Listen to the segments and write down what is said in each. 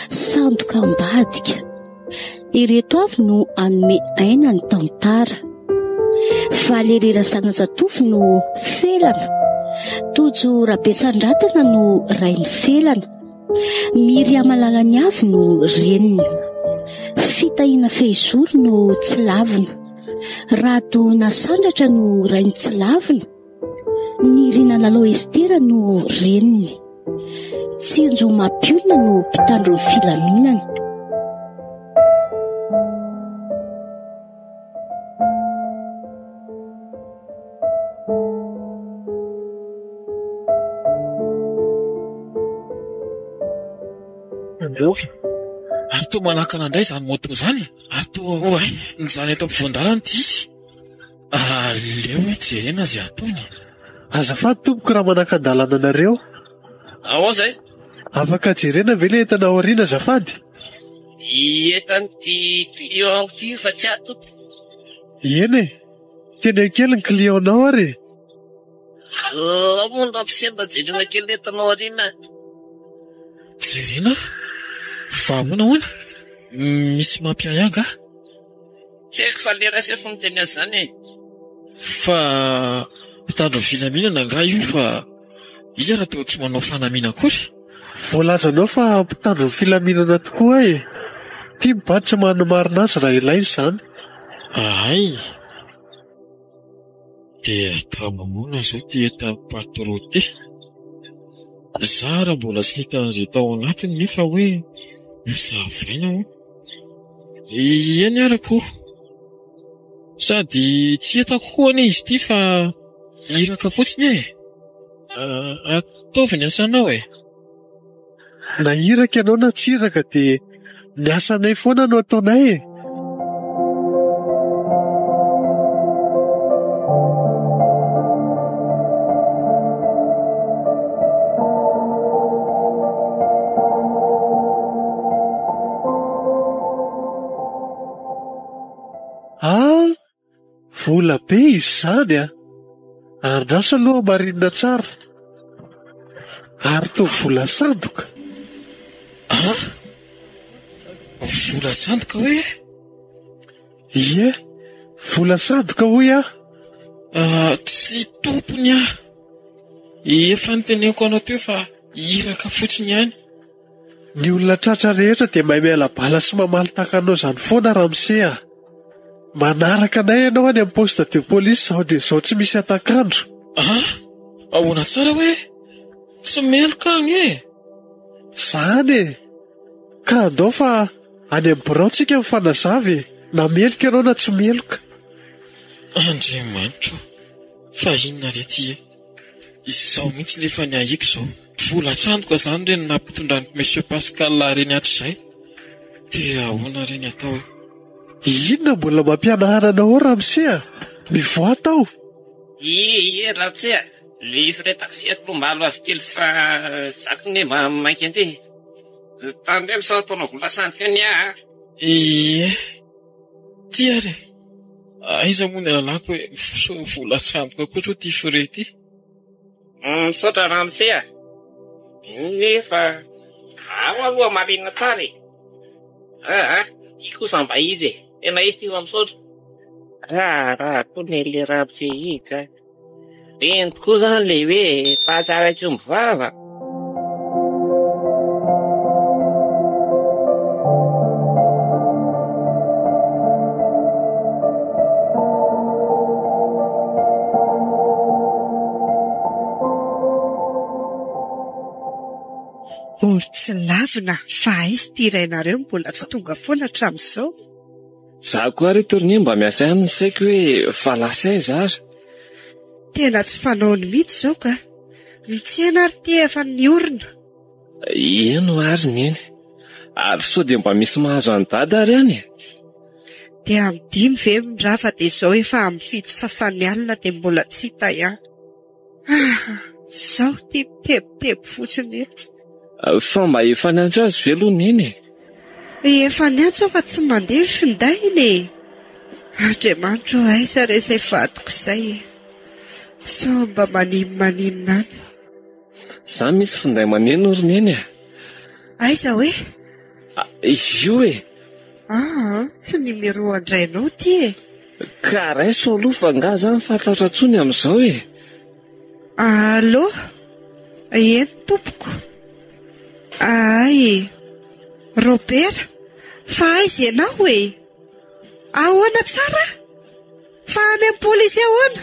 Sandoka ambadika ireto avy no anome aina ny tantara valerera zanazatofy no felana tojo rabesandratana no rain'ny felana Miriama Lalaniavo no reniny. Fitahiana Fehizoro no tsilavina. Rado Nasandratra no rainy tsilavina. Nirina Lalo Estera no reniny. Tsinjo Mapiolona no mpitandro ny filaminana. Miova. Ary toa manakana indray izany moto izany. Ary toa hoa izany eto ampovoan-dalana ity izy. Aleo hoe jerena izay ataony. Azafady tompoko raha manaka-dalana anareo. Ahoana izay? Afaka jerena ve ilay entana ao aoriana azafady? Hietany ty client-ko ty io fa tsy ato Tompo. Eny e! Teneno kely ny client-nao ary e! Alao moa nampisemba jerena kely ny entanao aoriana a! Jerena a! Fa ahoana hono? Misy mampiahy angaha? Tsy haiko fa le ras efa miteny azy zany e. Fa mpitandro ny filaminana angaha io fa iza raha toa tsy manao fanamiana akory? Voalazanao fa mpitandro ny filaminana tokoa e. Tim ba tsy manimarina azy raha ilaina izany. Ahay dia atao mamoana izao ity entan'i Patro ity. Zara mbola tsy hita an'izay tao anatiny nefa hoe ho zavaina hono. Ieny ary ko. Sady tsy hitako koa anie izy ity fa iraka fotsiny e. Ataovy ny asanao e. Na iraka ianao na tsy iraka dia ny asanay foana no ataonay e. Ah! vola be izy izany an! andraso aloha hamarina tsara, ary toa vola sandoka ah! vola sandoka hoe? ie, vola sandoka hoy aho ah! tsy tompony aho, efa noteneniko anao teo fa iraka fotsiny ihany. Ny olona tratra rehetra dia mahay miala bala sy mamaly tahaka anao izany foana Ramse a! Manaraka anay ianao any amin'ny poste de police izao dia izao tsy misy hatak'andro. Ah! Ahoana tsara hoe tsy meloka agny e! Zany e! Ka andao fa any amin'ny birao tsika mifanazava e! Na meloka ianao na tsy meloka. Andriamanitro o! Fa inona re ty e! Izao mihitsy nefa ny ahiako izao. Vola sandoka zany re no nampitondran'i Monsieur Pascal reny hatrizay. Dia ahoana re ny atao e? Inona mbola mampianahana anao ramose a! Mivoaha tao! Ie ie ramose a! Ny frais taxi aloha maro avy kely fa za k'ne mba mainka andeha e! Tandremo sao ataonao vola sandoka ny ahy a! Ie. Ty ary e! Aiza moa ny lalako e! Sao vola sy amboka kosa ity frais ity? Misaotra ramose a! Nefa ao aloha marina tsara e! Aa ty kosa mba izy e! Tena izy ty fa misaotra. Raharaha koa ny an'ilay ramose iny ka. Teny tokoa izany ilay hoe mpahatsara tsy omby vava. Mbola tsy lavina fa aiza ity iray nareo mbola tsy tonga foana hatramin'izao. Za koa ary tournée mba miasa ihany ny saiko hoe fa lasa aiza ary? Tena tsy fanaony mihitsy izao ka. Ny tsena ary ty efa niorina. Eny ary neny. Ary sao dia mba misy mahazo an'i dada ary any e? Dia amin'ny dimy ve ra fa dia izao efa amin'ny fito sasany alina dia mbola tsy hita ihany. Aha, izaho ity mitebiteby fotsiny eto. Fa mba efa niantso azy ve aloha Neny e? Efa niantso aho fa tsy mandeha ny findainy e! Andriamanitra ô aiza re izay vadiko izay e! Sao mba maninmaninona any. Izaho misy finday maneno ry Neny a! Aiza hoe? Izy io e! Aa, tsy ny miroho an-drainao ity e! Ka raiso aloha fa angaha za mifatahotra tsony amin'izao e! Allo! Eny tompoko! Ahay e! Robera! Fa aiza ianao e! Ahoana tsara? Fa any amin'ny polisy ahoana?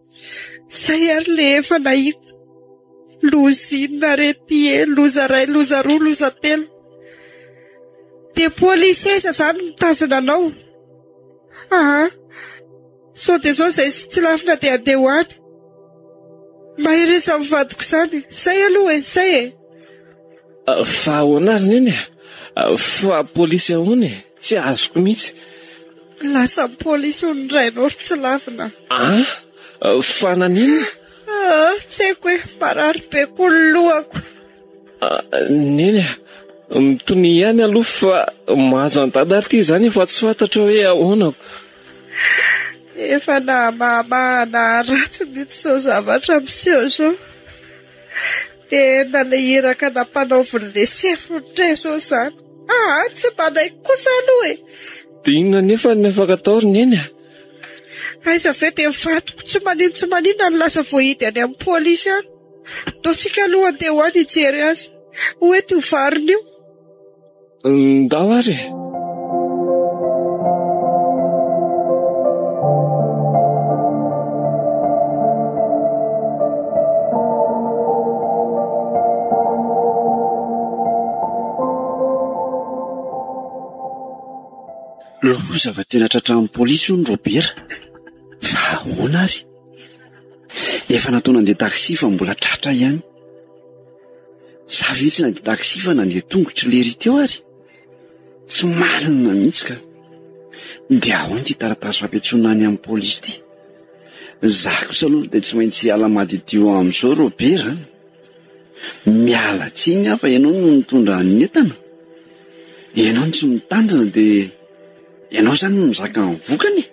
Zay ary le efa nahiko. Loza inona arety e, loza iray, loza roa, loza telo. Dia polisesa izany mitazona anao. Aha, sao dia sao izay tsy lafina dia handeha ho any. Mahereza amin'ny vadiko izany. Zay aloha e, zay e. Fa ahoana ary neny e? Fa polisy ahoana e? Tsy azoko mihitsy. Lasa polisy hono ny rainao ry tsy lavina. Ah? Fa naninona? Ah, tsy haiko e, marary be koa ny lohako. Ah, neny a, mitonia ihany aloha fa mahazo an'i dada ary ity izany efa tsy fantatro hoe ahoana. Efa na mahamahana ratsy mihitsy izao zavatra miseho izao. Dia nanao iraka nampanaovy ny laisser footre zao izany. Aa tsy manaiky kosa aloha e! Dia inona anefa ny afaka atao ry neny a! Aiza ve dia vadiko tsy maninona tsy maninona no lasa voahidy any amin'ny polisy any. Ataontsika aloha handeha ho any hijery azy. Ho eto io variny io. Ndao ary e! Loza fa tena tratran'ny polisy hono Robera. Fa ahoana ary? Efa natao nandeha taxi fa mbola tratra ihany. Za ve tsy nandeha taxi fa nandeha tongotro lery teo ary? Tsy marina mihitsy ka. Dia ahoana ity taratasy fampiantsoana any amin'ny polisy ity? Za kosa aloha dia tsy maintsy hiala madiodio amin'izao Robert an. Miala tsiny aho fa ianao no nitondra ny entana. Ianao no tsy mitandrina dia ianao izany no mizaka ny vokany e.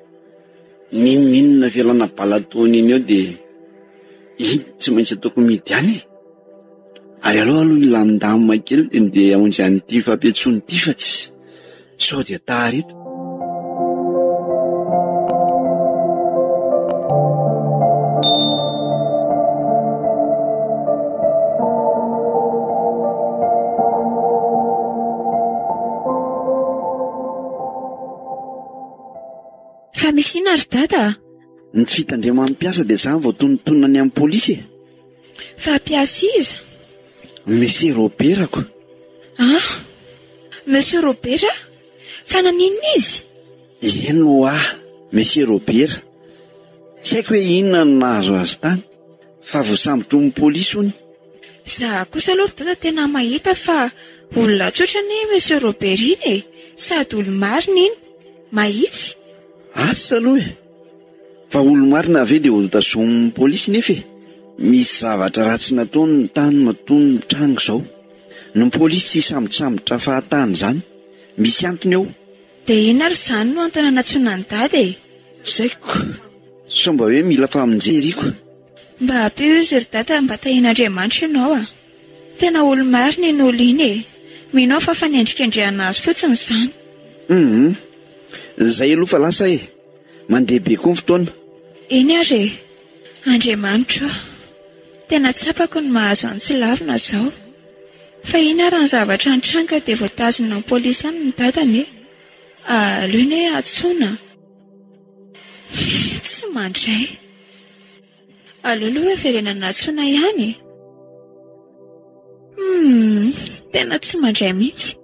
N'inon'inona avelana bala ataony iny eo dia iny tsy maintsy ataoko mihidy any e. Ary aleo aloha hilamindamina kely dia ndeha hamonjy an'ity fampiantsoana ity fa tsy sao dia tara eto. Fa misy inona ry dada a? Ny tsy fitandreman'ny mpiasa dia izany vao tonontonona ny amin'ny polisy e! Fa mpiasa iza? Monsieur Robert ko. Ah! Monsieur Robert? Fa naninona izy? Eny ho'a, Monsieur Robert. Tsy haiko hoe inona no nahazo azy tany. Fa voasambotron'ny polisy hono. Za kosa aloha ry dada tena mahita fa olona tsotra anie iny monsieur Robert iny e! Sady olo-marina iny. Mahitsy. Asa aloha e! Fa olo-marina ve dia ho tazomin'ny polisy nefa e! Misy zavatra ratsy nataony ny tany matoa mitranga izao. Ny polisy tsy hisambotrasambotra fahatany izany. Misy antony ao. Dia inona ary izany no antony anatsoina an'i Dada e? Tsy haiko. Sao mba hoe mila famonjeriako. Mba ampio izy ry Dada mba tahian'Andriamanitra ianao a! Tena olo-marina iny olo iny e! Mino aho fa fanendrikendrehana azy fotsiny izany. Hum. Izay aloha fa lasa e! Mandeha be koa ny fotoana. Eny ary e! Andriamanitro o! Tena tsapako ny mahazo an'i Tsilavina izao. Fa iny ary ny zavatra nitranga dia voatazona ny polisy any ny dadany e! Aleo ny hoe antsoina. Tsy mandray. Aleo aloha haverenana antsoina ihany e! Humm! Tena tsy mandray mihitsy.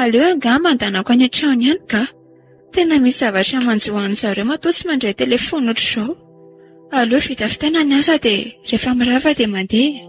Aleo angaha mandanako any an-trano ihany ka! Tena misy zavatra manjo an'ny zareo matoa tsy mandray telefaonina ohatr'izao. Aleo vitavitaina ny asa dia rehefa mirava dia mandeha e!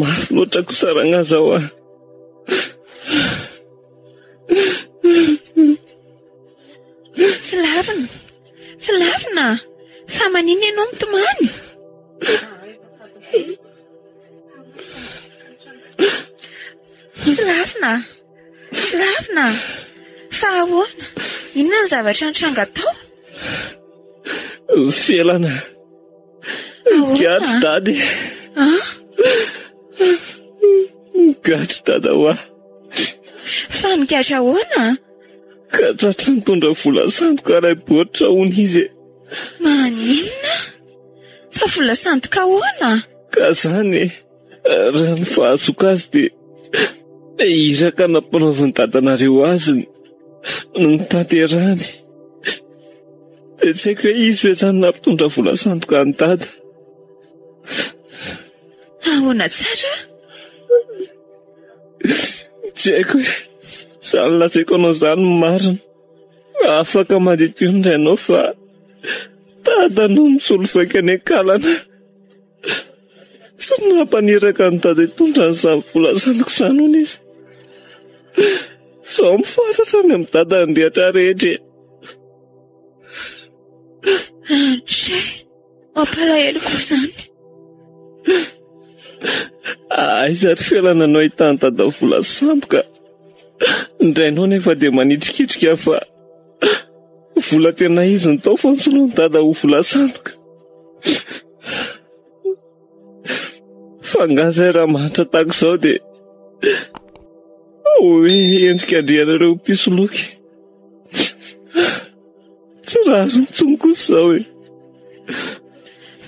Mafy loatra kosa ragnaza ao ah. Tsy lavina. Tsy lavina. Fa manina ianao mitomany? Tsy lavina. Filarina! Fa ahoana? Inona ny zavatra nitranga tao? Felana. Gadry dady. Ah? Gadry dada hoa. Fa ny gadry ahoana? Ka tratra nitondra vola sandoka iray baoritra hono izy. Maninona? Fa vola sandoka ahoana? Ka zany e. Raha ny fahazoako azy dia iraka nampanaovin'i dadanareo azy no notanterahany. Dia tsy haiko hoe izy ve izany nampitondra vola sandoka an'i dada. Ahoana tsara? Tsy haiko hoe izany lazaiko anao izany no marina. Afaka mandidio ny rainao fa dada no misolo vaika any an-kalana. Tsy nampaneraka an'i Dada hitondra an'izany vola zanako izany hono izy. Izaho mifatratra any amin'i Dada ny rehetra rehetra e. Andry, mampalahelo koa izany. Aiza ry felana no ahitan'i Dada vola sandoka. Ny rainao anefa dia manitrikitrika fa vola tena izy no tao fa nosoloan'i Dada ho vola sandoka. Fa angaha izay raha mahantra tahaka izao dia hoe endrika andrianareo mpisoloky? Tsy rariny intsony kosa izao e.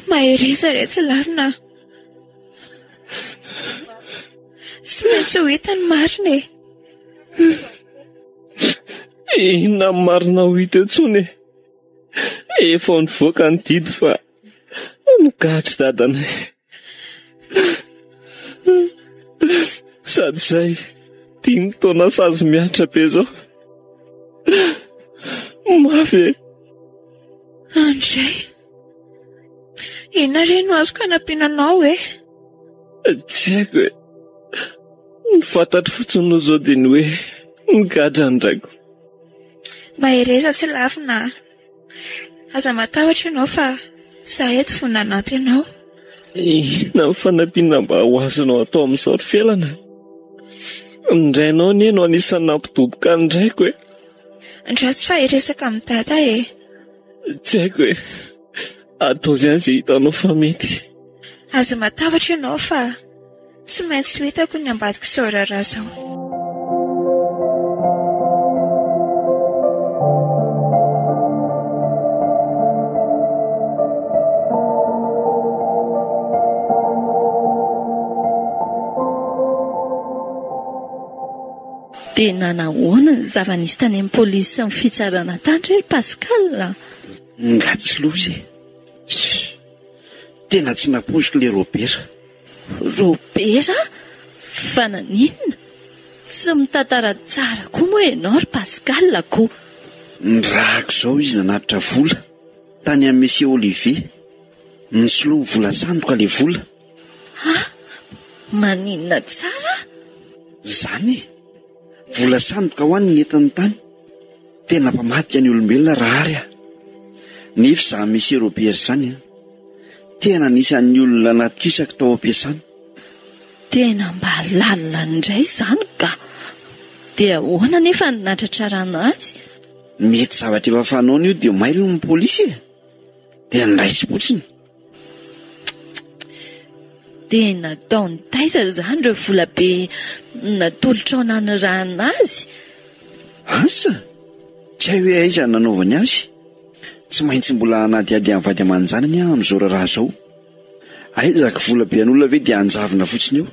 Mahereza re tsy larina. Tsy maintsy ho hita ny marina e. Inona ny marina ho hita eo intsony e. Efa nivoaka ny didy fa Gaga dadanay. Sady izay dimy taona sazy mihatra be izao. Mafy e. Andray. Inona re no azoko hanampiana anao e? Tsy haiko e. Ny fantatro fotsiny no izao dia ny hoe migadra ny raiko. Mahereza sy lavina. Aza matahotra ianao fa izaho eto fony nanampy anao. Inona ny fanampiana mba ho azonao atao amin'izao ry Felana? Ny rainao anie no anisan'ny nampidoboka ny raiko e. Andraso fa hiresaka amin'i Dada e. Tsy haiko e. Ataovy ihany izay hitanao fa mety. Aza matahotra ianao fa Tsy maintsy ho hitako ny ambadik'izao raharaha izao. Dia nanahoana ny zava-nisy tany amin'ny polisy sy ny fitsarana tany re ry Pascal a? Nga tsy loza e! Tsia! Tena tsy nampoiziko ilay Robert. Robera, fa naninona? Tsy mitantara tsara koa moa ianao ry Pascal a ko! Nirahako izao izy nanatitra vola tany amin'i Monsieur Olivier. Nisolo ny vola sandoka ilay vola. Ha! Maninona tsara? Izany e! Vola sandoka ho an ny entin'ny tany. Tena mpamadika ny olombelona raha ary aho. Nefy izany Monsieur Robert izany an. Tena anisan'ny olona natosako tao am-piasana. Tena mba lalina indray izany ka. Dia ahoana anefa ny natratrarana azy? Mety zavatra efa fanaony io dia mailo ny polisy e. Dia niraisim-potsiny. Dia nataony taiza izany ireo volabe natolotrao nanirahana azy? Asa? Tsy hay hoe aiza nanaovany azy? Tsy maintsy mbola hanadihady an'i vady aman-janany aho amin'izao raharaha izao. Aiza aky volabe an'olona ve dia hanjavona fotsiny eo?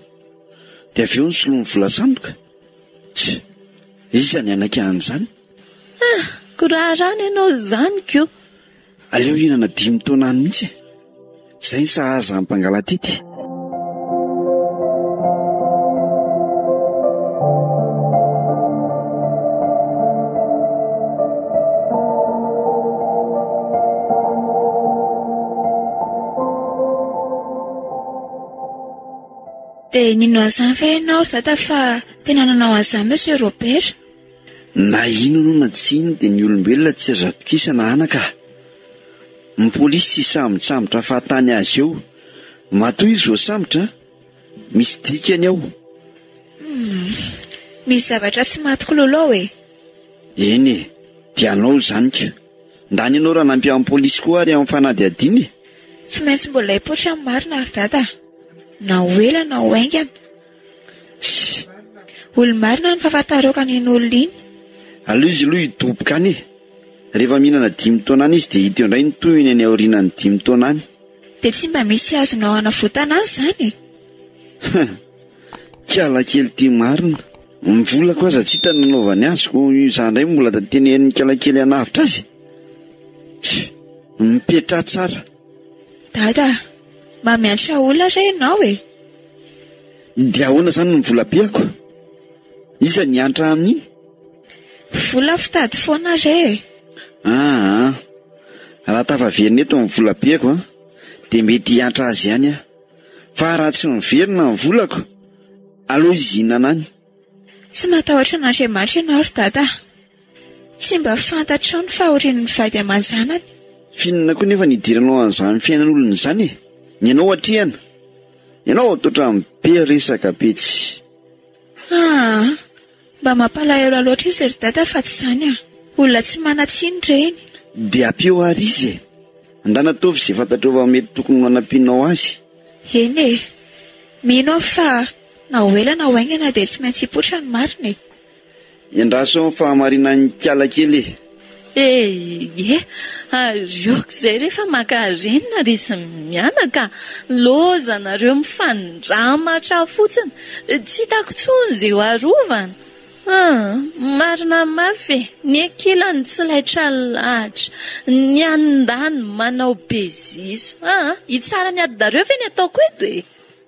Dia avy eo ny soloa ny vola sandoka? Tsy! Iza ny hanaiky an'izany? Ah, ko raharaha ny anao izany ko! Aleo hihinana dimy taona any mihitsy e! Izay ny sahaza amin'ny mpangalatity. Dia nino an'izany ve ianao ry dada fa tena nanao an'izany Monsieur Robert? Na inona io na tsy inona dia ny olombelona tsy azo atokisana anaka a! Ny polisy tsy sambotsambotra fahatany azy eo. Matoa izy voasambotra, misy dikany ao. Humm. Misy zavatra tsy maty kololo ao e! Eny e, dia anao izany ka. Ndany ianao raha nampy an'ny polisy koa ary amin'ny fanadihadiana e! Tsy maintsy mbola hipoitra ny marina ry dada a! Na ho ela na ho haingana. Olo marina any fa fataroka any iny olona iny. Aleo izy aloha hidoboka any e. Rehefa mihinana dimy taona any izy dia hita eo indray ny tohiny any aorianan'ny dimy taona any. Dia tsy mba misy azonao anavotana azy izany e. Kiala kely ity marina. Ny volako aza tsy hita ny nanaovany azy koa izaho indray mbola tantely herin'ny kiala kely hanavotra azy e. Mipetraha tsara. Dada, mamiantra olona re ianao e! Dia ahoana izany ny volabeako? Iza ny hiantra amin'iny? Vola fitady foana re e! Aa, raha tafaverina eto ny volabeako an, dia mety hiantra azy ihany aho. Fa raha tsy miverina ny volako, aleo izy hihinana any. Tsy matahotra an'Andriamanitra ianao ry Dada a! Tsy mba fantatrao ny fahorian'ny vady aman-janany. F'inona koa nefa ny hidiranao an'izany fiainan'olona izany e? Ny anao atrehana. Ianao vao toa trano be resaka be tsy. Aa! Mba mampalahelo loatra izy ry Dada fa tsy izany a! Olona tsy manan-tsiny ireny. Dia ampio àry izy e! Andrana ataovy izay fantatrao fa mety tokony ho anampianao azy. Eny e! Mino aho fa. Na ho ela na ho haingana dia tsy maintsy hipoitra ny marina e! Endraso ny fahamarinan'ikala kely e! E! Ie! Ary aok'izay rehefa maka renina ry sy mianaka, loza nareo mifandramatra fotsiny, tsy hitako tsony ze ho arovana! Ah! Marina mafy e! Ny ankilany tsy laitra lahatra, ny andaniny manao be ziso! Ah! Hitsara ny adinareo ve ny ataoko eto e!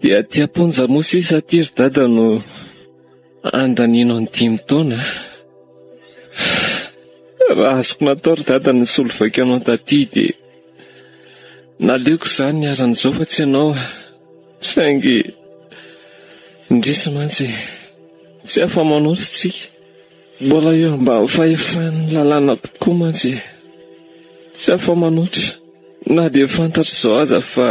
Dia aty am-ponja moa sisa aty ry dada no andaniana ny dimy taona. Raha azoko natao ry dada ny nisolo vaika anao taty dia naleoko izany niharan'izao fa tsy ianao aho. Saingy indrisy mantsy, tsy afa-manoatra isika. Mbola eo ambany fahefan'ny lalàna tokoa mantsy e! Tsy afa-manoatra. Na dia fantatr'izao aza fa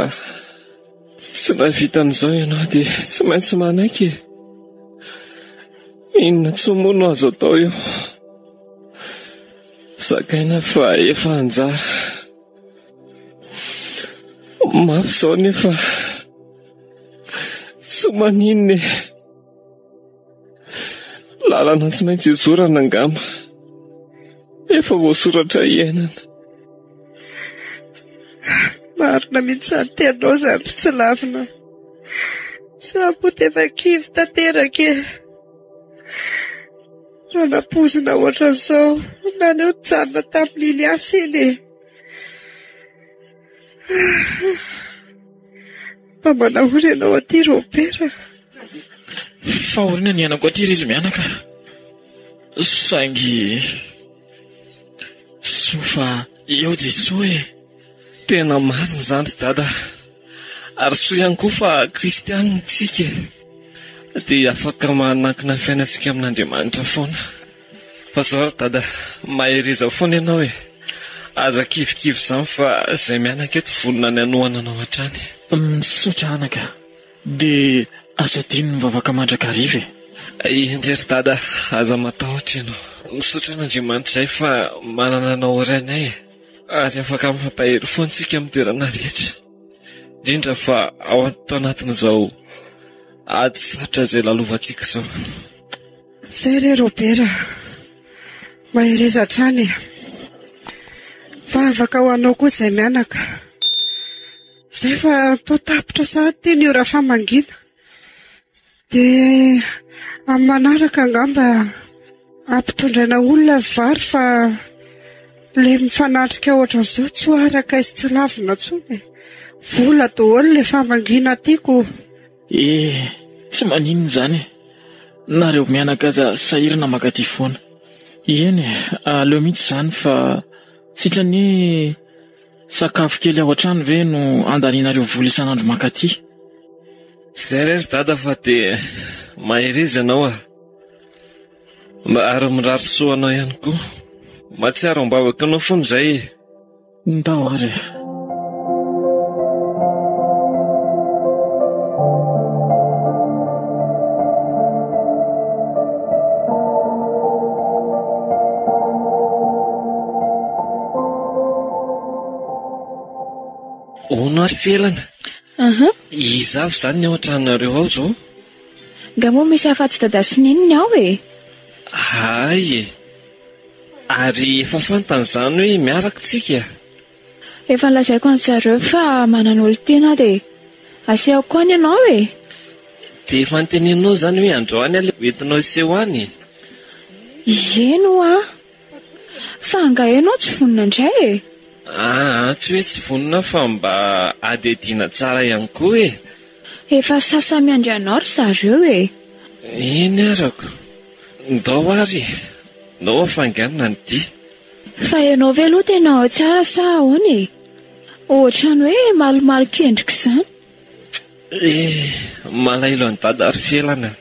tsy nahavita an'izao ianao dia tsy maintsy manaiky e! Inona intsony moa no azo atao eo? Zakaina fa efa anjara. Mafy izao nefa tsy maninona e! Lalana tsy maintsy hizorana angamba. Efa voasoratra hiainana. Marina mihitsy izany tianao izany tsy lavina. Samy ho tefa kivy tanteraka e. Raha nampoizina ohatran'izao naneo nijanona tamin'iny asa iny e. Fa mba nahoana ianao aty Robert a? Fahoriana ny iainako aty ry izy mianaka saingy soa fa eo Jesoa e! Tena marina izany ry Dada a! Ary soa ihany koa fa kristiana isika e! Dia afaka manankina ny fiainantsika amin'Andriamanitra foana. Fa zao ry dada, mahereza foana ianao e! Aza kivikivy izany fa izay mianaka eto vonona ny hanohana anao hatrany. Misaotra anaka, dia aza adino mivavaka mandrakariva e! Indray ry dada, aza matahotra ianao. Misaotra an'Andriamanitra izay fa manana anao ho rainay e! Ary afaka mifampahery foana isika amin'ny toerana rehetra, indrindra fa ao anatin'izao ady sarotra izay lalovantsika izao. Izay re Robert a! Mahereza hatrany e! Vavaka ho anao koa izay mianaka. Izay fa toa tapitra sahady ity ny ora famangiana. Dia amin'ny manaraka angamba hampitondraina olona ny vary fa ilay mifanatrika ohatran'izao tsy ho araka aiza tsy ho lavina intsony e! Vola daholo ilay famangiana tiako. Eh! Tsy maninona izany e! Nareo mianaka aza sahirana mankaty foana. Eny e! Aleo mihitsy izany fa sitrany sakafo kely ao an-trano ve no andanianareo vola isan'andro mankaty. Izay re ry Dada fa dia mahereza ianao a! Ary mirary soa anao ihany koa. Mahatsiaro am-bavaka anao foana izay e! Ndao ary e! Hono ary felana. Aha. Iza avy izany ny ao an-tranonareo ao izao? Nga moa misy afatsy dada sy neniny ao e? Hay e. Ary efa fantany izany hoe miaraka isika e! Efa nolazaiko an-dry zareo fa manana olon-tiana aho dia asehoko koa ny anao e! Dia efa noteneninao izany hoe androany aleha ho entinao hiseho any e! Ie no a! Fa angaha ianao tsy vonona indray e! Aa, tsy hoe tsy vonona aho fa mba adihadiana tsara ihany koa e! Efa sasa miandry anao ry zareo e! Eny arako. Ndao ary e! Ndao afanganina ny dia. Fa ianao ve aloha tena ao tsara sa ahoana e? Ohatran'ny hoe malomalo kendrika izany. Eh! Malahelo an'i Dada ry Felana.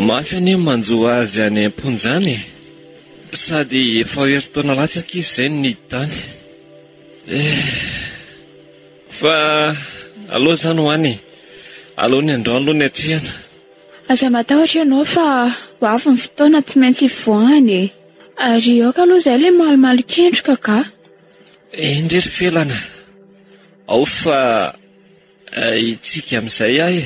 Mafy anie ny manjo azy any am-ponja any e! Sady efa ho herintaona latsaka izy izay no niditra any. Eh! Fa aleo izany ho any e. Aleo ny androany aloha ny hatrehana. Aza matahotra ianao fa ho avy ny fotoana tsy maintsy hivoahany e. Ary aoka aloha izay ilay malomalo kendroka ka. Eny re ry felana, ao fa hitsika amin'izay aho e.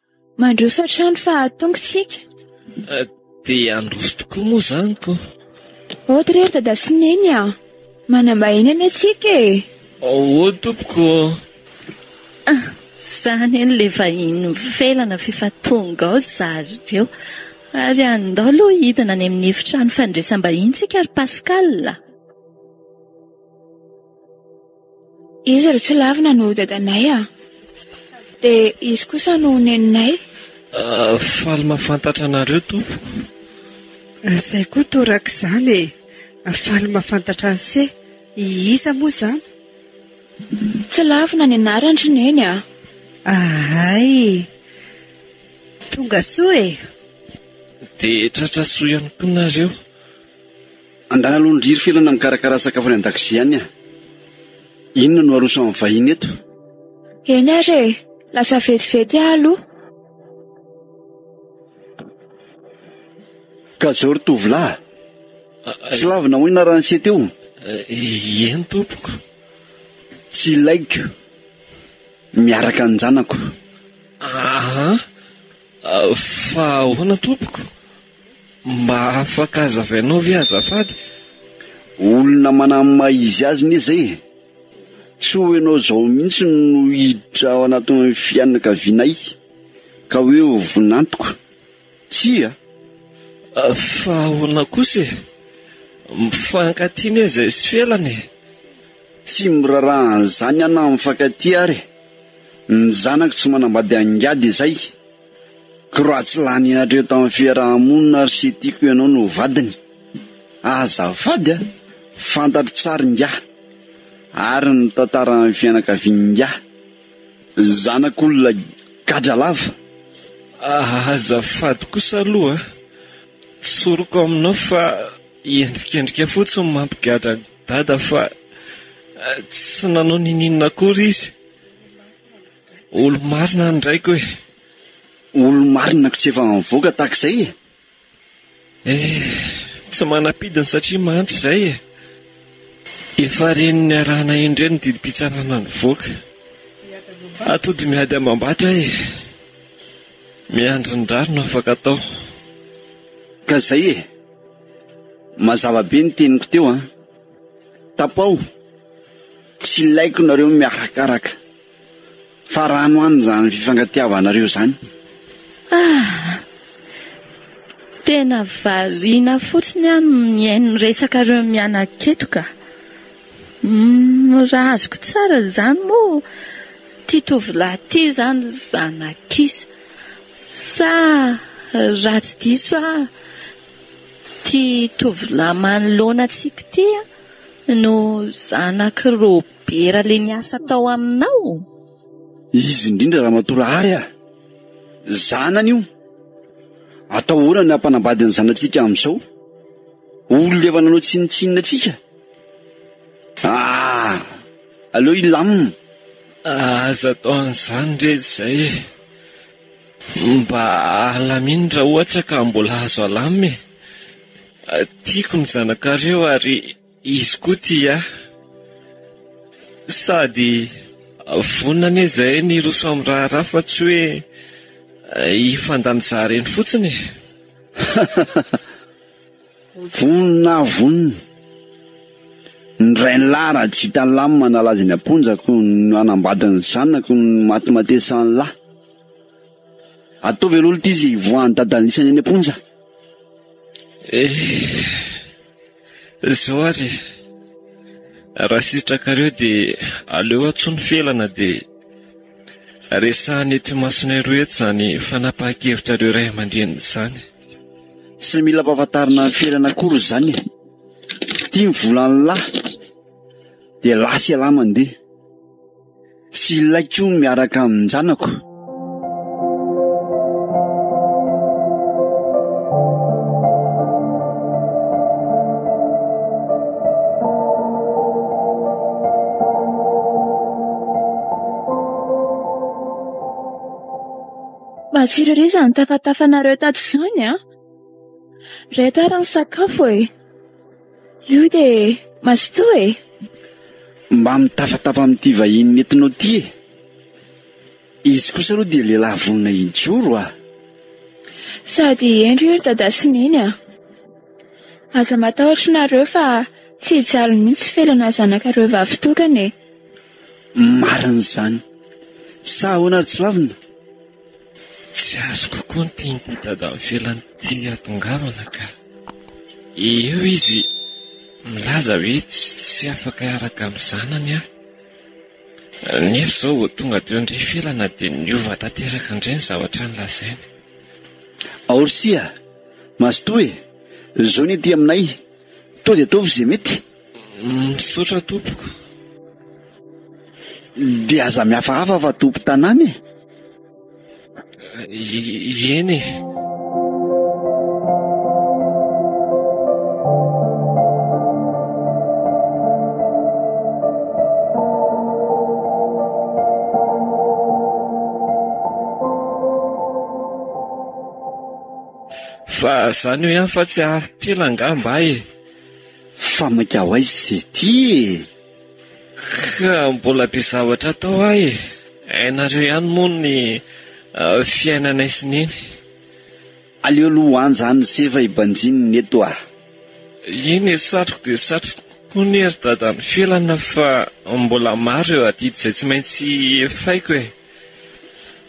Mandroso hatrany fa tonga isika. Eh, dia handroso tokoa moa izany ko. Oto oh, ry dada sy neny a. Ah. Manambahiny any antsika e. Eh. Ao oh, tompoko. Ah, zany eny le vahiny mifelana fefa tonga ao zary reo. Ary andao aloha hidina any amin'ny efitrano fandresam-bahintsika ry Pascal. Izy ry tsy lavina no dadanay a! Dia izy kosa no neninay. Ah, faly mahafantatra anareo tompoko. Zay koa torak'izany e! Faly mahafantatra an'se! Iza moa izany? Tsy lavina ny anaran-dry neny a! Ahay! Tonga soa e! Dia tratra soa ihany koa nareo! Angaha alony riry filana mikarakara sakafo any an-dakozia any a! Inona no aroso amin'ny vahiny eto? Eny ary e! Lasa vetivety aho aloha. Ka zao ry tovolahy, tsy lavina hoina raha nisety eo? Eny tompoko. Tsy ilaiko miaraka an-janako. Aa! Fa ahoana tompoko? Mba afaka azavainao ve azafady? Olona manam maha izy azy ne zay e! Tsy ho enao zao mihitsy no hiditra ao anatin'ny fianakavianay ka hoe ho vonantoka. Tsia! Fa ahoana kosa e! Mifankatia ne zay sy felana e! Tsy miraraha an'izany an na mifankatia ary e! Ny zanako tsy manambady angady izay! Croix tsy lany hatreo tamin'ny fiaraha-monina ary tsy tiako ianao no vadiny. Azafady a! Fantatro tsara ingahy ary ny tantaran'ny fianakavian'ingahy. Zanak'olona gadra lava. Azafady kosa aloha a! Tsoriko aminao fa endrikendrika fotsiny ny mampigadra an'i Dada fa tsy nanao ninoninona akory izy. Olo marina any draiko e. Olo marina ko tsy efa mivoaka tahaka izay e. Eh, tsy manapidiny satria manitra izay e. Efa reny niarahana indreny ny didim-pitsarana nivoaka. Atody miady amam-bato aho e. Miandry ny rary no afaka atao. Ka izay e. Mazava be ny teniko teo an. Tapaho. Tsy ilaiko nareo miarakaraka. Fa rano any izany fifankatiavanareo izany. Ah! Tena variana fotsiny aho ny mihaino ny resakareo mianaketo ka. Umm raha azoko tsara izany moa ity tovolahy ity izany zanak'isa. Sa raha tsy diso aho ity tovolahy manoloana antsika ity no zanak'i Robert. Bera le niasa tao aminao? Izy indrindra ramatoa lahary ah! Zanany io! Atao ahoana ny hampanambady ny zanatsika amin'izao? Olona efa nanao tsinontsinona antsika? Ah! Aleo hilamina! Aza atao an'izany re izay e! Mba alamino raha ohatra ka mbola azo alamina e! Tiako ny zanakareo ary. Izy koa tia sady vonona anie izahay ny hiroso amin'ny raharaha fa tsy hoe hifandanizaha ireny fotsiny e! Vonona aho vonona. Ny rainilahy Rajitanlam manalaza eny am-ponjako no hanambady ny zanako no matimatesan'ny lahy. Ataovy aloha lty izy hivoahan'i dada an'isany eny am-ponja. Eh! Zao ary e! Raha sitrakareo dia aleo antsoiny felana dia resahina eto imasonay roa eto izany fanapahan-kevitrareo ray aman-dreniny izany. Tsy mila ampahafantarina felana akory izany e! Ity ny volan'lah dia lah sy elah mandeha. Tsy ilaiko miaraka amin-janako. Matsiro ery izany tafatafanareo tato izany an! Ireto ary ny sakafo e! Io dia mazotoa e! Mba mitafatafa amin'ity vahiny nentinao ity e! Izy kosa aloha dia lehilahy vonona hijoro a! Sady hendry io ry Dadah sy Neny a! Aza matahotra nareo fa tsy hijaly mihitsy felana zanakareo vavy tokana e! Marina izany! Sa ahoana ry Tsilavina? Tsy azoko koa ny tian'ity Dadah mifelana ity hahatongavana ka! Eo izy milaza hoe tsy afaka hiaraka amin'ny zanany aho. Nefa izao vao tonga teo indray felana dia niova tanteraka indray ny zavatra nolazainy. Aory Sia! Mazotoa e! Zony aty aminay! Toa dia ataovy izay mety! Misaotra tompoko. Dia aza mihafahafa fa tompo tanàna e. Ieny e. Fa zany hoe aho fa tsy haharitra ela angaha mba e. Fa mainka ho aiza izy ity e? Ka mbola be zavatra atao hoa e! Hainareo ihany moa ny fiainanay sy neny. Aleo aloha ho any izany ny sefo e, banjino ny eto a! Eny e, satriko dia satriko tokoa anie ry dada ny felana fa mbola maro ireo adidy izay tsy maintsy efaiko e!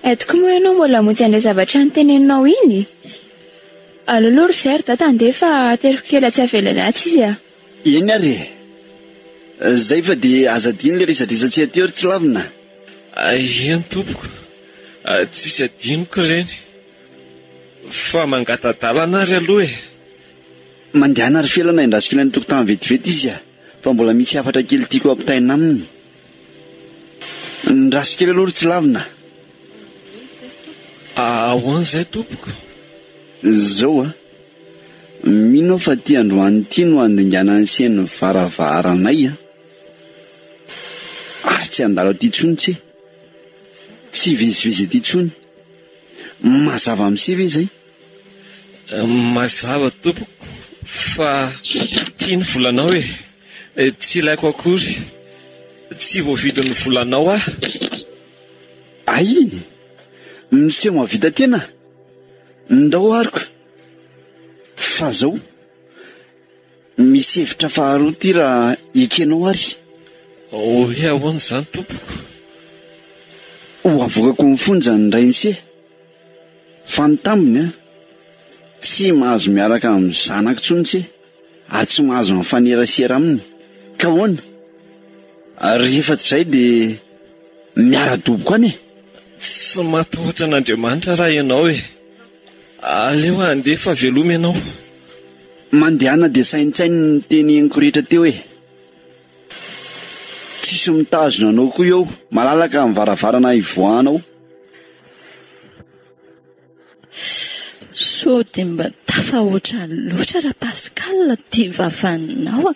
Eto koa moa ianao mbola hamonjy an'ilay zavatra noteneninao iny? Allo aloha ry Zer, dada andeha fa ateriko kely atsy avelany atsy izy a! Eny ary e! Zay fa dia aza adino ilay resadresatsy aty eo ry Tsilavina a! Eny tompoko, tsisy adinoko ireny fa mangata-dalana ary aloha e! Mandehana ry Felana endasik'ilay ny tokotany vetivety izy a! Fa mbola misy hafatra kely tiako ampitaina aminy. Ndraso kely aloha ry tsy lavina. Ahoana izay tompoko? Izao a! Mino aho fa ity androany ity no handingana ny sein'ny varavaranay a! Ary tsy handalo aty intsony tse! Tsy hivezivezy aty intsony! Mazava amin'se ve izay? Mazava tompoko fa ity ny volanao e! Tsy ilaiko akory. Tsy voavidin'ny volanao aho. Aii! Miseho mahavita tena? Ndao arko. Fa zao. Misy hevitra faharoa ty raha ekenao ary. Hoe ahoana izany tompoko? Ho avoakako ny fonja ny Rainise. Fa ny tambiny an! Tsy mahazo miaraka amin'ny zanako intsony ce. ary tsy mahazo mifanerasera aminy ka ahoana? ary rehefa tsy izay dia miara-doboka any e! Tsy matahotra an'Andriamanitra raha ianao e! aleo handeha fa veloma ianao. Mandehana dia saintsaino ny teny henoko rehetra teo e! tsisy mitazona anao koa eo, malalaka ny varavarana hivoahanao. Sao dia mba tafahoatra loatra Rapascal ity vavaninao a!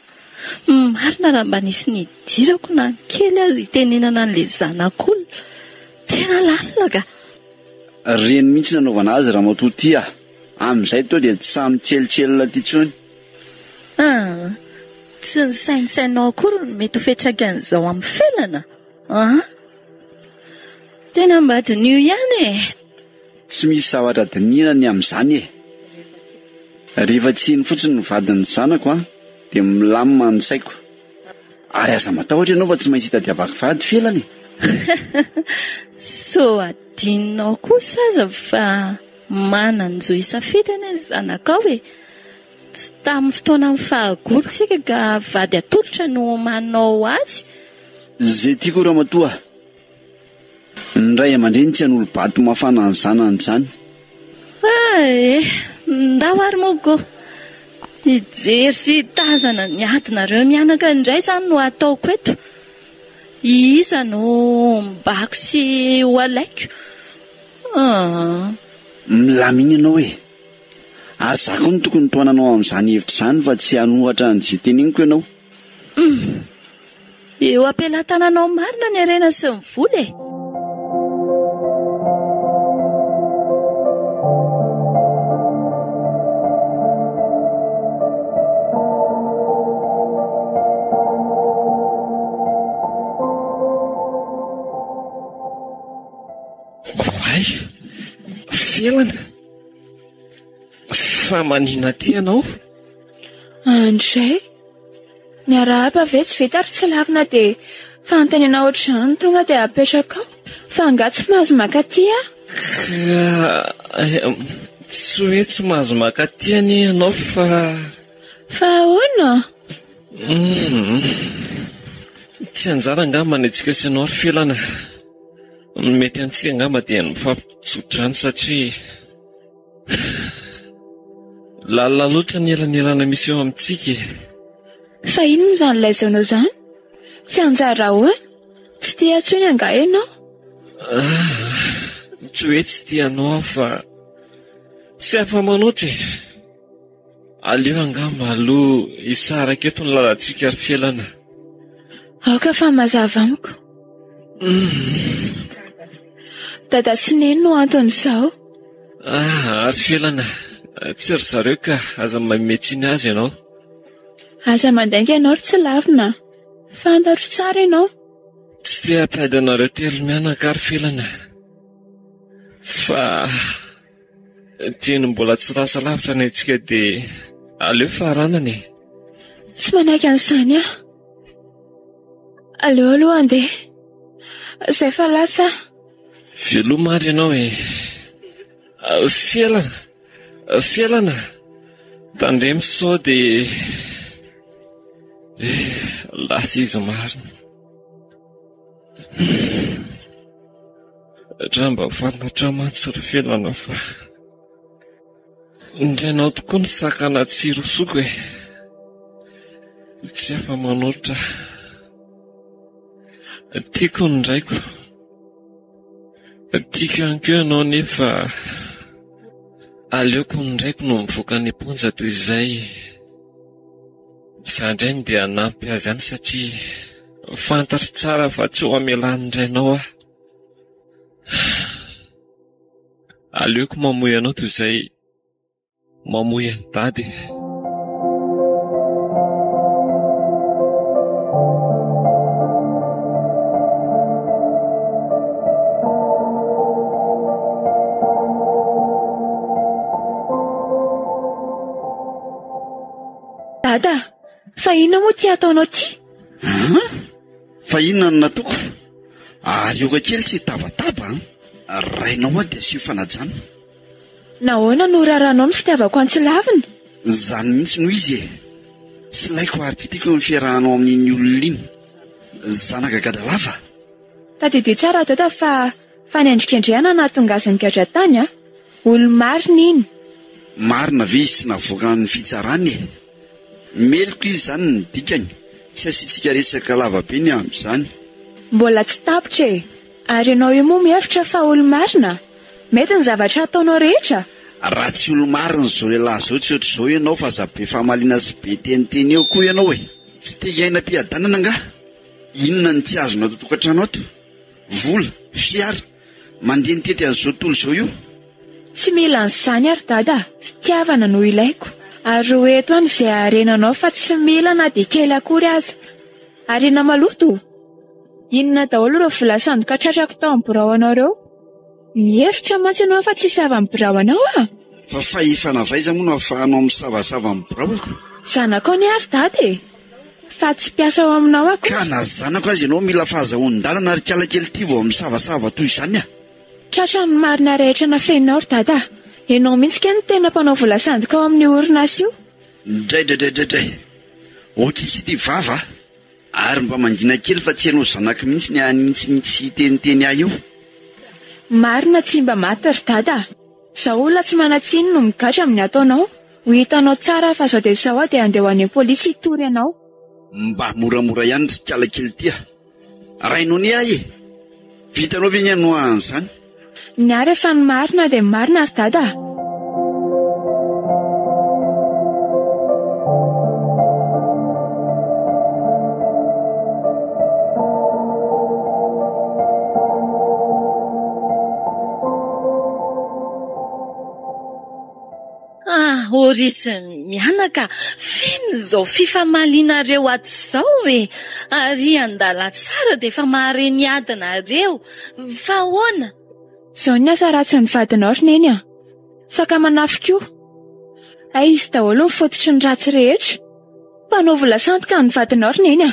Marina raha mba nisy nidirako na ny kely aza hitenenana an'ilay zanak'olona. Tena lalina ka! Reny mihitsy nanaovana azy ramatoa ity a! Amin'izay toa dia tsy sahy mitselitselina aty intsony. Ah, tsy nisaintsainao akory ny mety ho fiantraikan'izao amin'ny felana? An! Tena mba diniho ihany e! Tsy misy zavatra dinihina ny amin'izany e! Rehefa tsy iny fotsiny ny vadin'ny zanako an, dia milamina ny saiko. Ary aza matahotra ianao fa tsy maintsy hitadiavako vady felana e! Sao adinonao kosa aza fa manan-jo hisafidy anie ny zanakao e! Tsy tamin'ny fotoanan'ny fahagola isika ka vady atolotra no manao azy. Ze tiako ramatoa, ny ray aman-dreny tsy hanolo-bato mafana ny zanany izany. Ah eh, ndao ary moa koa hijery sy hitazana ny adinareo mianaka indray izany no ataoko eto. Iza no hombako sy hohalaiko? Ah. Milamina ianao e! Ary za koa no tokony tohananao amin'izany hevitra izany fa tsy hanohatra an'izay teneniko ianao. Hum. Eo am-pelatananao marina ny harena sy ny vola e! Oay! Felana! Fa manina aty ianao? Andray, miarahaba ve tsy vita ary tsy lavina dia fanontaniana anao ohatr'izany tonga dia apetraka ao fa angaha tsy mahazo maka aty aho? Tsy hoe tsy mahazo maka aty anie ianao fa... Fa ahoana? Tsy anjara angamba ny antsika sy ianao ry Felana. Ny mety amintsika angamba dia ny mifampitso-drano satria lalina loatra ny elanelana misy eo amintsika e. Fa inona izany ilay zonao izany? Tsy hanjary ahoana? Tsy tia intsony angaha ianao? Ah, tsy hoe tsy tia anao aho fa tsy afa-manoatra e. Aleo angamba aloha hisaraka eto ny lalantsika ry Felana. Aoka fa mazava amiko. Dada sy Neny no anton'izao. Ah, ry Felana, tsy ry zareo ka, aza manome tsiny azy ianao. Aza mandainga ianao ry tsy lavina. Fantatro tsara ianao. Tsy te-hampihady anareo telo mianaka aho ry Felana, fa... Dieny mbola tsy lasa lavitra ny antsika dia aleo faranana e! Tsy manaiky an'izany aho. Aleo aloha handeha. Izay fa lasa aho. Veloma ary ianao e! Felana! Felana! Tandremo sao dia lasa izy marina. Raha mba fantatra mantsy ry Felana fa indrainao tokoa ny sakana tsy rosoko e! Tsy afa-manolotra aho. Tiako ny raiko. Tiako ihany koa ianao nefa aleoko ny raiko no mivoaka any am-ponja toy izay. Izaho indray no dia hanampy azy any satria fantatro tsara fa tsy ho hamelan'ny rainao aho. Aleoko mamoy anao toy izay mamoy an'i Dada e. Dada, fa inona moa ity ataonao ity? An? Fa inona no nataoko? Ary aoka kely tsy hitabataba an! Rainao hoa dia asio fanajana. Nahoana no raharahanao ny fitiavako antsy lavina? Izany mihitsy no izy e! Tsy laiko ary tsy tiako ny fiarahanao amin'iny olona iny. Zanaka gadra lava. Tadidio tsara aho dada fa Fanendrikendrehana nahatonga azy nigadra tany a! Olo-marina iny. Marina ve izy tsy navoakan'ny fitsarana e? Meloka izy zany ny dikany. Tsy asiantsika resaka lava be ny amin'izany. Mbola tsy tapitra e! Ary ianao io moa mihevitra fa olo-marina? Mety ny zavatra ataonao rehetra? Raha tsy olo-marina zao lehilahy zao tsy ohatr'izao ianao fa aza be famaliana sy be teniteny eo koa ianao e! Tsy te hiaina am-piadanana angaha? Inona no tsy azonao ato an-tokantrano ato? Vola, fiara, mandeha nitety an'izao tontolo izao io. Tsy mila an'izany ary Dada a! Fitiavana no ilaiko. Ary ho eto any izay harenanao fa tsy mila na dia kely akory aza. Harena maloto o! Inona daholo ireo vola sandoka tratrako tao amin'ny birao anao ireo? Mihevitra mantsy ianao fa tsisy havan'ny birao anao a! Fa fahefana avaiza moa no ahafahanao misavasava ny biraoko? Zanakao anie ary Dada e! Fa tsy mpiasa ao aminao aho kosa. Ka na zanako aza ianao mila fahazahoan-dalana ry kala kely ity vao misavasava toy izany a! Tratra ny marina rehetra nafeninao ry dada a! Ianao mihitsy kay no tena mpanao vola sandoka ao amin'io orinasa io. Draidraidraidray! Ho kitsy ity vava a! Ary mba mangina kely fa tsy ianao zanako mihitsy ny an'iny tsy nitsiteniteny ahy io. Marina tsy mba maty ry dada a! Zao olona tsy manan-tsiny no migadra amin'ny ataonao, ho hitanao tsara fa zao dia zao aho dia handeha ho any am-polisy hitory anao. Mba moramora ihany ry kala kely ity a! Ray Nonie ahy e! Vitanao ve ny hanoa an'izany? Niary e fa ny marina dia marina ry dada a! Ah! Horisy mianaka, feno izao fifamalianareo ato izao e! Ary an-dalantsara dia efa mahare ny adinareo. Fa ahoana? Izao ny asa ratsy ny vadinao ry Neny a! Sakamanafo koa. Hay izy daholo no fototry ny ratsy rehetra. Mpanao vola sandoka ny vadinao ry Neny a!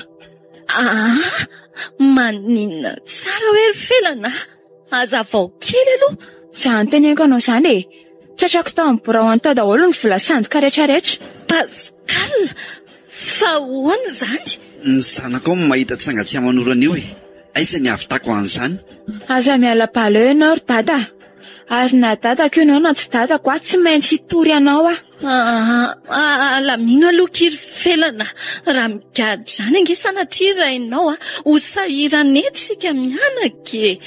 Ah! Maninona tsara hoe ry Felana a! Hazavao kely aloha izay anonteneniko anao izany e! Tratrako tao amin'ny birao any tao daholo ny vola sandoka rehetra rehetra. Pascal! Fa ahoana izany? Ny zanako ao no mahita tsanga tsy aman'ora an'io e! Aiza ny hahavitako an'izany? Aza miala bala eo ianao ry dada a! Ary na dadako ianao na tsy dadako aho tsy maintsy hitory anao aho. Alamino aloha ky ry felana raha migadra izany ange sanatria rainao ho sahiran' eto isika mianaka e!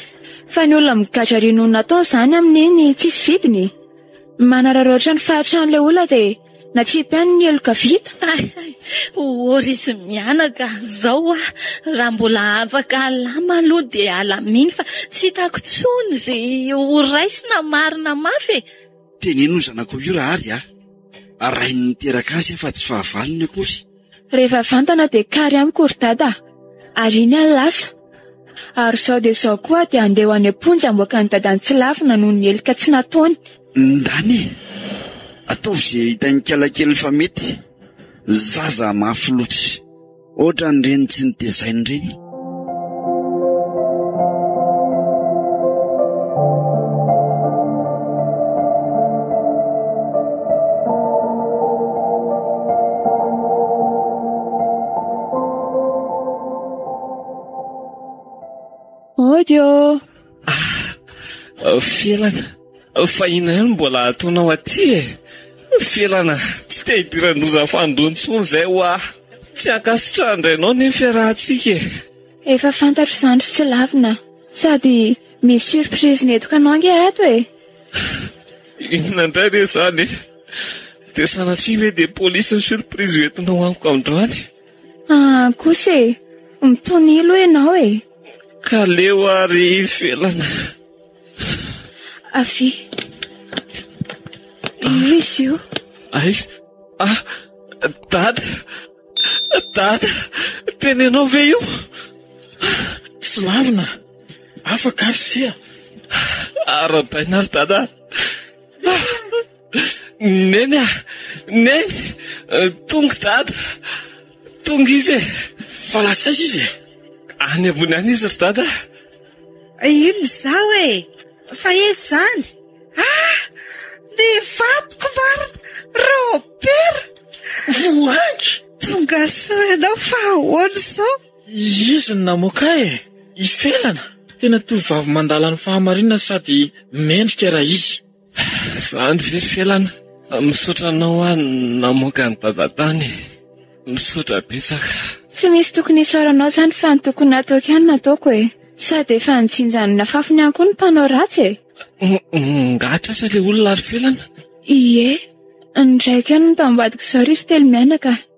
Fa ny olona migadra ary no natao izany amin' iny tsisy vidiny e! Manararaotra ny fahatran' ilay olona dia natsipy any ny heloka vita. Hay ô ry izy mianaka izao aho raha mbola afaka alama aloha dia alamino fa tsy hitako intsony izay ho raisina marina mafy e! Teneno io zanakao io raha ary aho. Rainy niteraka azy aho fa tsy fahavalony akory. Rehefa vantana dia kary amiko ry dada a! Ary iny aho lasa. Ary izao dia izao koa aho dia handeha ho any am-ponja hamoaka an'i dada an-tsilafina noho ny helika tsy nataony. Ndany e! Ataovy izay hitan'ikalakeliny fa mety. Zaza mafy loatra. Ohatran'ireny tsy notezaina ireny. Audio. Ah! Felana! Fa inona ihany no mbola ataonao aty e? Felana! Tsy te hidiran-doza fanindroa intsony izay hoa! Tsy ankasitrahan'ny rainao anie ny fiarahantsika e! Efa fantatro izany ry tsy lavina! Sady misy surprise nentiko anao ange ato e! Inona indray re izany e? Dia sanatria ve dia polisy ny surprise ho entinao amiko androany? Ah, kosa e, mitonilo ianao e. Ka leo ary ivelana. Avy. Io izy io. Ay, ah, dada, dada, tena ianao ve io? Tsy lavina, afaka ary seha. Arabaina ary dada. Neny ah, neny, tonga dada, tonga izy e. Fa lasa aiza izy e? Any ambony any izy ry dada. Inona izao e? Fa izy izany? Ah, ny vadiko marina, Robert. Voangy. Tonga soa ianao fa ahoana izao? Izy no namoaka e, ifelana. Tena tovovavy mandala ny fahamarinana sady mendrika raha izy. Zandry felifelana misaotra anao hoa namoaka an'i dada tany e! Misaotra betsaka. Tsy misy tokony hisaoranao zany fa ny tokony nataoko ihany nataoko e! Sady efa nijinja ny nafafiny ihany koa ny mpanao ratsy e! Mongatra aza le olona ary felana. Ie, ny raiko ihany no tao ambadik'izao ry izy telo mianaka.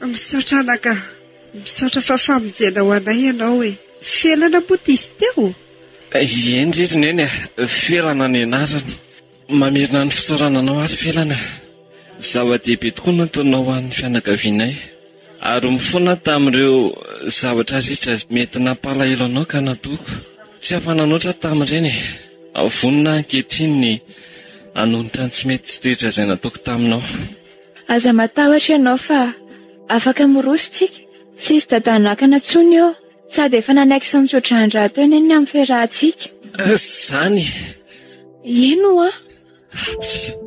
Misaotra anaka. Misaotra fa famonjena ho anay ianao e. Felana moa ity sy teo? Eny re ry Neny a, Felana ny anarany. Mamerina ny fisaorana anao ary Felana. Zava-dehibe tokoa ny antonao ho an'ny fianakavianay ary mifona tamin'ireo zavatra rehetra izay mety nampalahelo anao ka natoako tsy afa-nanoatra tamin'ireny e. Vonona aho ankehitriny ny hanonitra ny tsy mety sy toetra izay nataoko taminao. Aza matahotra ianao fa afaka miroso tsika, tsisy dadah nakana tsony eo, sady efa nanaiky sy nitsodraandraha teo anie ny amin'ny fiarahantsika. Zany. Eny oa. Pff.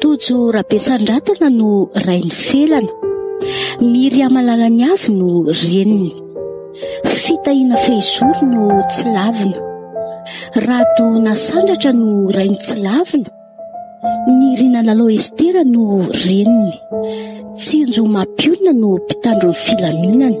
Tojo Rabesandratana no rain'i Felana. Miriamalala'ny Avy no reniny. Fitahiana Fehizoro no Tsilavina. Rado Nasandratra no rain'i Tsilavina. Nirina Lalao Estera no reniny. Tsinjo Mapionina no mpitandro ny filaminana.